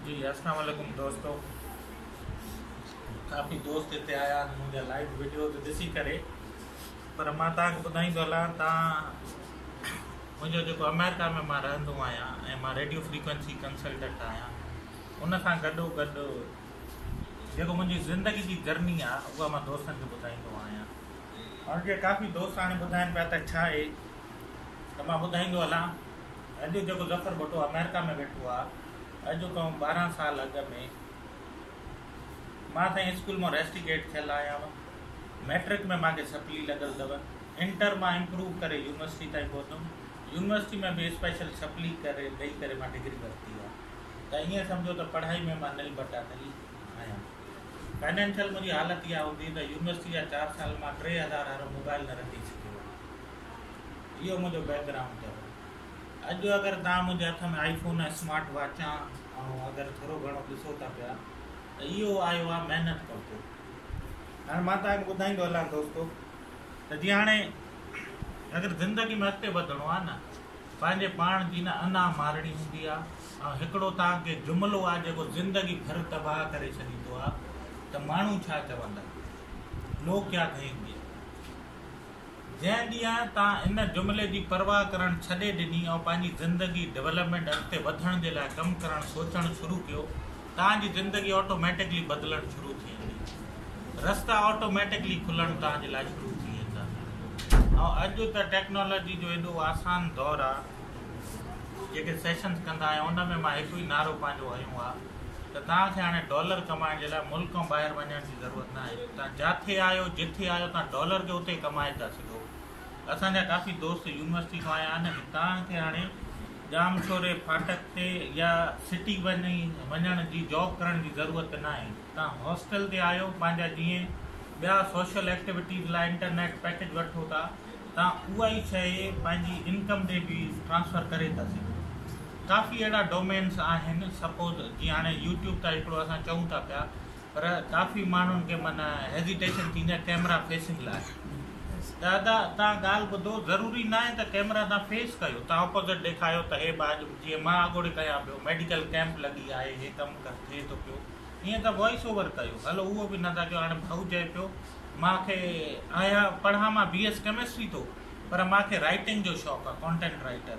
جي اسلام عليڪم دوستو ڪافي دوست اتي آيا آهن منهنجا لائيو ويڊيوز ڏسي ڪري پر مان تان کي ٻڌائين ٿو هلان تان منهنجو جيڪو آمريڪا ۾ مان رهندو آهيان ۽ مان ريڊيو فريڪوينسي ڪنسلٽنٽ آهيان ان سان گڏو گڏ جيڪو منهنجي زندگي جي جرني آهي اها مان دوستن کي ٻڌائيندو آهيان ۽ جي ڪافي دوست هاڻي ٻڌائين پيا ته ڇا اهي ته مان ٻڌائيندو هلان ته اڄ جيڪو ظفر ڀٽو آمريڪا ۾ ويٺو آ اڄ کان ٻارهن سال اڳ ۾ مان سائين اسڪول مان ريسٽيگيٽ ٿيل آهيان ميٽرڪ ۾ مانکي سپلي لڳل اٿو انٽر مان امپروو ڪري يونيورسٽي تائين پهتم يونيورسٽي ۾ به اسپيشل سپلي ڪري ڏئي ڪري مان ڊگري ورتي آ ته ائين سمجهو ته پڙهائي ۾ مان نل بٽا نل آهيان فائنينشل منهنجي حالت اها هوندي ته يونيورسٽي جا چار سال مان ٽي هزار هارو موبائل نه رکي سگهيو اهو منهنجو بيڪ گرائونڊ اٿو اڄ اگر تان منهنجي هٿ ۾ آئي فون ۽ سمارٽ واچا ۽ اگر ٿورو گهڻو ڏسو ٿا پيا ته اهو آيو آ محنت ڪرتو هاڻي مان تان ٻڌائيندو هلان دوستو ته جي هاڻي اگر زندگي ۾ اڳتي وڌڻو آ نه پنهنجي پاڻ جي نه انا مارڻي هوندي آ ۽ هڪڙو تان کي جملو آ جيڪو زندگي ڀر تباهه ڪري ڇڏيندو آ ته ماڻهو ڇا چوندا لوگ ڪيا ڪهينگي جنهن ڏينهن تان ان جملي جي پرواهه ڪرڻ ڇڏي ڏني ۽ پنهنجي زندگي ڊولپمينٽ اڳتي وڌڻ جي لاء ڪم ڪرڻ سوچڻ شروع ڪيو تان جي زندگي آٽوميٽڪلي بدلڻ شروع ٿي ويندي رستا آٽوميٽڪلي کلڻ تان جي لاء شروع ٿي ويندا ۽ اڄ ته ٽيڪنالاجي جو ايڏو آسان دور آ جيڪي سيشنز ڪندا آهيون ان ۾ مان هڪ ئي نعرو پنهنجو هنيو آ ته توهان کي هاڻي ڊالر ڪمائڻ جي لاء ملڪ کان ٻاهر وڃڻ جي ضرورت نه آهي، توهان جاٿي آهيو، جٿي آهيو توهان ڊالر کي اتي ڪمائي ٿا سگهو. اسان جا ڪافي دوست يونيورسٽي کان آيا آهن ۽ توهان کي هاڻي ڄامشوري ڦاٽڪ تي يا سٽي وڃي وڃڻ جي جاب ڪرڻ جي ضرورت نه آهي، توهان هاسٽل تي آهيو، پنهنجا جيئن ٻيا سوشل ايڪٽيوٽيز لاء انٽرنيٽ پيڪيج وٺو ٿا، تان اها ئي شئي پنهنجي انڪم تي به ٽرانسفر ڪري ٿا سگهو ڪافي اهڙا ڊومينس آهن سپوز جي هاڻي يوٽيوب تان هڪڙو اسان چئون ٿا پيا پر ڪافي ماڻهن کي من هيزيٽيشن ٿيندي آهي ڪيمرا فيسنگ لاء ته ادا تان ڳالهه ٻڌو ضروري نه آهي ته ڪيمرا تان فيس ڪيو تان اپوزٽ ڏيکاريو ته هي باج جي مان اڳوڙي ڪيان پيو ميڊيڪل ڪيمپ لڳي آهي هي ڪم ڪر ٿئي ٿو پيو ائين ته وائس اوور ڪيو هلو اهو به نه ٿا ڪيو هاڻي ڀائو چئي پيو مان کي آهيان پڙهان مان بي ايس ڪيمسٽري ٿو پر مان کي رائيٽنگ جو شوق آ ڪونٽينٽ رائيٽر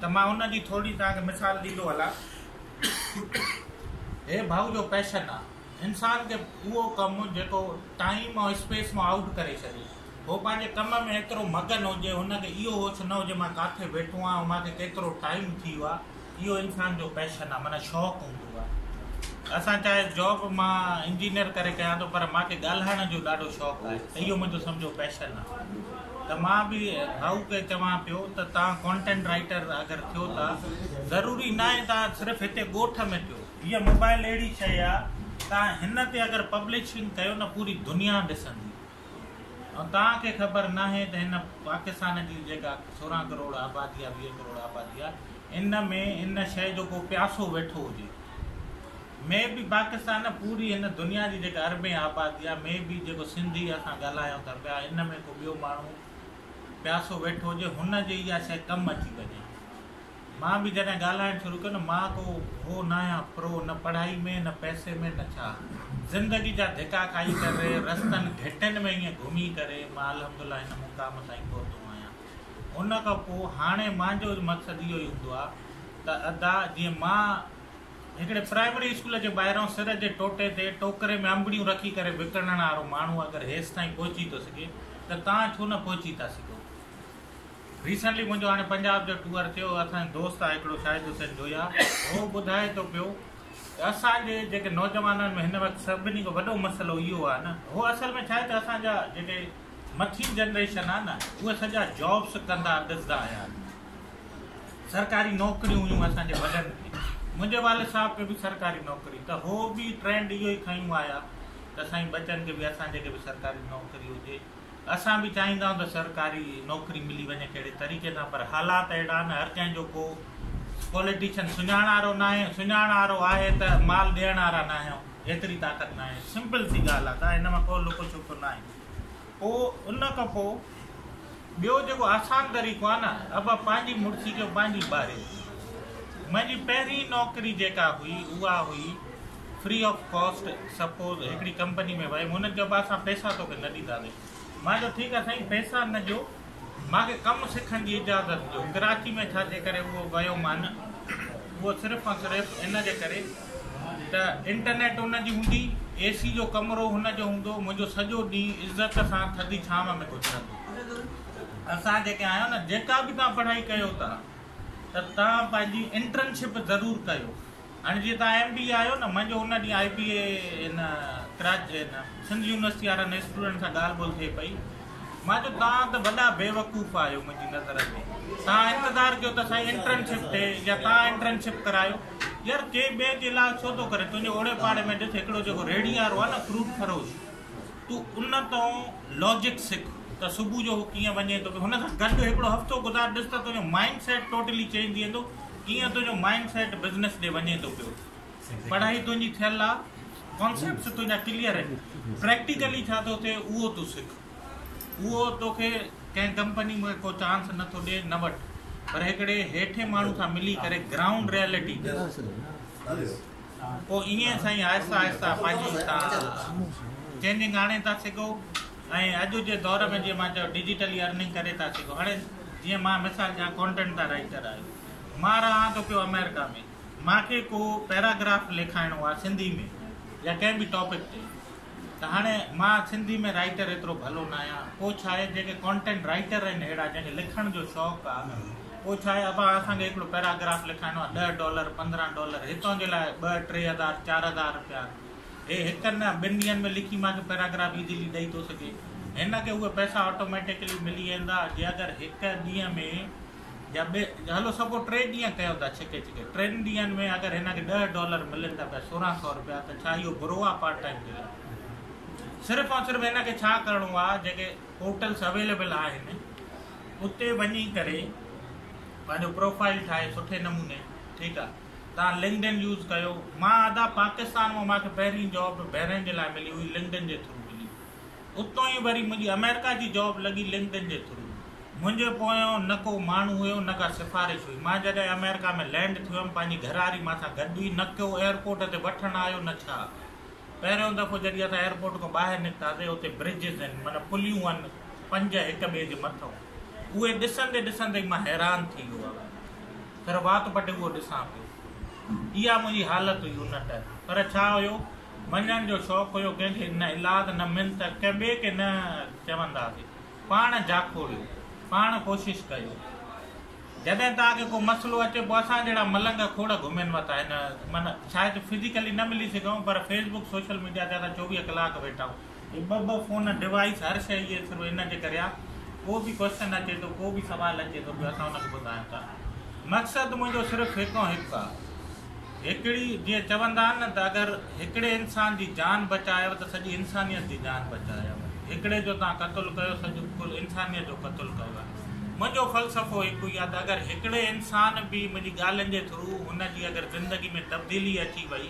ته مان ان جي ٿورڙي توهان کي مثال ڏيندو هلان هي ڀائو جو پيشن آ انسان کي اهو ڪم جيڪو ٽائيم ۽ اسپيس مان آئوٽ ڪري ڇڏي هو پنهنجي ڪم ۾ ايترو مگن هجي هن کي اهو هوش نه هجي مان ڪاٿي ويٺو آهيان مان کي ڪيترو ٽائيم ٿي ويو آ اهو انسان جو پيشن آ معنيٰ شوق هوندو آ اسان چاهي جاب مان انجنيئر ڪري ڪيان ٿو پر مان کي ڳالهائڻ جو ڏاڍو شوق آهي ته اهو منهنجو سمجهو پيشن آ ته مان به ڀائو کي چوان پيو ته تان ڪانٽينٽ رائيٽر اگر ٿيو ٿا ضروري ناهي تان صرف هتي ڳوٺ ۾ ٿيو هيء موبائل اهڙي شيء آ تان هن تي اگر پبلشنگ ڪيو نه پوري دنيا ڏسندي توهان کي خبر ناهي ته هن پاڪستان جي جيڪا سورهن ڪروڙ آبادي آهي ويهه ڪروڙ آبادي آهي ان ۾ ان شيء جو ڪو پياسو ويٺو هجي مي بي پاڪستان نه پوري هن دنيا جي جيڪا اربين آبادي آهي مي بي جيڪو سنڌي اسان ڳالهايون ٿا پيا ان ۾ ڪو ٻيو ماڻهو پياسو ويٺو هجي هن جي اها شيء ڪم اچي وڃي مان به جڏهن ڳالهائڻ شروع ڪيو نه مان ڪو هو ناهيان پرو نه پڙهائي ۾ نه پئسي ۾ نه ڇا زندگي جا ڌڪا کائي ڪري رستن گهٽين ۾ ائين گهمي ڪري مان الحمدالله هن مقام تائين پهتو آهيان ان کان پوء هاڻي مانجو مقصد اهو ئي هوندو آهي ته ادا جيئن مان هڪڙي پرائمري اسڪول جي ٻاهران سر جي ٽوٽي تي ٽوڪري ۾ انبڙيون رکي ڪري وڪڻڻ وارو ماڻهو اگر هيستائين پهچي ٿو سگهي ته توهان ڇو نه پهچي ٿا سگهو. ريسنٽلي منهنجو هاڻي پنجاب جو ٽوئر ٿيو اسان جو دوست آهي هڪڙو شاهد حسين جويا هو ٻڌائي ٿو پيو ته اسان جي جيڪي نوجوانن ۾ هن وقت سڀني کان وڏو مسئلو اهو آهي نه هو اصل ۾ ڇاهي ته اسان جا جيڪي مٿين جنريشن آهي نه اهي سڄا جابس ڪندا ڏسدا آيا آهن سرڪاري نوڪريون هيون اسان جي وڏن کي منهنجي والد صاحب کي به سرڪاري نوڪري ته هو به ٽرينڊ اهو ئي کنيون آيا ته سائين ٻچن کي به اسان جي کي به سرڪاري نوڪري هجي اسان به چاهيندا آهيون ته سرڪاري نوڪري ملي وڃي ڪهڙي طريقي سان پر حالات اهڙا آهن هر ڪنهن جو ڪو پوليٽيشن سڃاڻارو ناهي سڃاڻارو آهي ته مال ڏيڻارا ناهيون ايتري طاقت ناهي سمپل سي ڳالهه آهي ڪا هن مان ڪو لڪو ڇپڪو ناهي پوء ان کان پوء ٻيو جيڪو آسان طريقو آهي نه ابا پنهنجي مڙسي جو پنهنجي ٻاري منهنجي پهرين نوڪري جيڪا هئي اها هئي فري آف ڪاسٽ سپوز هڪڙي ڪمپني ۾ ويم هنن چيو بس اسان پيسا توکي نه ڏينداسين مان چيو ٺيڪ آهي سائين پيسا نه ڏيو مان کي ڪم سکڻ جي اجازت ڏيو ڪراچي ۾ ڇا جي ڪري اهو ويو مان اهو صرف ۽ صرف ان جي ڪري ته انٽرنيٽ ان جي هوندي اي سي جو ڪمرو هن جو هوندو منهنجو سڄو ڏينهن عزت سان ٿڌي ڇانو ۾ گذرندو اسان جيڪي آهيو نه جيڪا به تان پڙهائي ڪيو ٿا ته تان پنهنجي انٽرنشپ ضرور ڪيو هاڻي جيئن توهان ايم بي اي آهيو نه منجهه ان ڏينهن آئي بي اي ان ڪراچي ان سنڌ يونيورسٽي وارن اسٽوڊنٽ سان ڳالهه ٻولهه ٿئي پئي مان چيو توهان ته وڏا بيوقوف آهيو منهنجي نظر ۾ توهان انتظار ڪيو ته سائين انٽرنشپ ٿئي يا توهان انٽرنشپ ڪرايو يار ڪي ٻئي جي علاج ڇو ٿو ڪري تنهنجي اوڙي پاڙي ۾ ڏس هڪڙو جيڪو ريڙي وارو آهي نه فروٽ فروش تو ان تون لاجڪ سک ته صبح جو هو ڪيئن وڃي ٿو هن سان گڏ هڪڙو هفتو گذار ڏس ته تنهنجو مائنڊ سيٽ ٽوٽلي چينج ٿي ويندو ڪيئن تنهنجو مائنڊ سيٽ بزنس ڏي وڃي ٿو پيو پڙهائي تنهنجي ٿيل آ ڪانسيپٽس تنهنجا ڪليئر آهن پريڪٽيڪلي ڇا ٿو ٿئي اهو تون سک اهو توکي ڪنهن ڪمپني ۾ ڪو چانس نٿو ڏي نه وٺ پر هڪڙي هيٺين ماڻهو سان ملي ڪري گرائونڊ ريئلٽي تي پوء ائين سائين آهسته آهسته پنهنجي تان چينجنگ آڻي ٿا سگهو ۽ اڄ جي دور ۾ جيئن مان چيو ڊيجيٽلي ارننگ ڪري ٿا سگهو هاڻي جيئن مان مثال ڏيان ڪونٽنٽ تان رائيٽر آهيو مان رهان ٿو پيو آمريڪا ۾ مانکي ڪو پيراگراف لکائڻو آهي سنڌي ۾ يا ڪنهن به ٽاپڪ تي ته هاڻي مان سنڌي ۾ رائيٽر ايترو ڀلو ناهيان پوء ڇا آهي جيڪي ڪانٽينٽ رائيٽر آهن اهڙا جنهن کي لکڻ جو شوق آهي پوء ڇا آهي ابا اسان کي هڪڙو پيراگراف لکائڻو آهي ڏهه ڊالر پندرهن ڊالر هي تنهنجي لاء ٻه ٽي هزار چار هزار رپيا هي هڪ نه ٻن ڏينهن ۾ لکي مان کي پيراگراف ايزلي ڏئي ٿو سگهي هن کي اهي پئسا آٽوميٽڪلي ملي ويندا جي اگر هڪ ڏينهن ۾ يا ٻي هلو سگهو ٽي ڏينهن ڪيو ٿا ڇڪي ڇڪي ٽن ڏينهن ۾ اگر هن کي ڏهه ڊالر ملن ٿا پيا سورهن سئو روپيا ته ڇا اهو برو آهي پارٽ ٽائيم جي لاء صرف ۽ صرف هن کي ڇا ڪرڻو آهي جيڪي پورٽلس اويليبل آهن اتي وڃي ڪري پنهنجو پروفائل ٺاهي سٺي نموني ٺيڪ آهي تان لنگن يوز ڪيو مان ادا پاڪستان مان ماکي پهرين جاب بهرين جي لاء ملي هئي لنگن جي ٿرو ملي اتو ئي وري منهنجي آمريڪا جي جاب لڳي لنڪڊن جي ٿرو. منهنجي پويان نه ڪو ماڻهو هيو نه ڪا سفارش هئي. مان جڏهن آمريڪا ۾ لينڊ ٿيو هيم پنهنجي گهرواري مان سان گڏ ئي نه ڪو ايئرپورٽ تي وٺڻ آيو نه ڇا. پهريون دفعو جڏهن اسان ايئرپورٽ کان ٻاهر نڪتاسين اتي برجز هين معنيٰ پليون هين پنج هڪ ٻئي جي مٿئون اهي ڏسندي ڏسندي ئي مان حيران ٿي ويو هان ٿر وات پٽي اهو ڏسان پيو اها منهنجي حالت هئي ان ٽائيم پر ڇا هيو وڃڻ جو شوق هيو، ڪنهن کي نه الاد نه منت، ڪنهن ٻئي کي نه چونداسين، پاڻ جاکو ويو، پاڻ ڪوشش ڪيو، جڏهن توهان کي ڪو مسئلو اچي پوء اسان جهڙا ملنگ کوڙ گهمين وتا هن معنيٰ شايد فزيڪلي نه ملي سگهون پر فيس بڪ سوشل ميڊيا تي اسان چوويهه ڪلاڪ ويٺا آهيون، هي ٻه ٻه فون ڊوائيس هر شئي جي ٿرو هن کي ڪريا ڪو به ڪوئسچن اچي ٿو ڪو به سوال اچي ٿو پيو اسان ان کي ٻڌايون ٿا مقصد منهنجو صرف هڪ ۽ هڪ آ هڪڙي جيئن چوندا آهن نه ته اگر هڪڙي انسان جي جان بچايو ته سڄي انسانيت جي جان بچايو هڪڙي جو توهان قتل ڪيو سڄي ڪل انسانيت جو قتل ڪيو آهي منهنجو فلسفو هڪ ئي آ ته اگر هڪڙي انسان به منهنجي ڳالهين جي ٿرو هن جي اگر زندگي ۾ تبديلي اچي وئي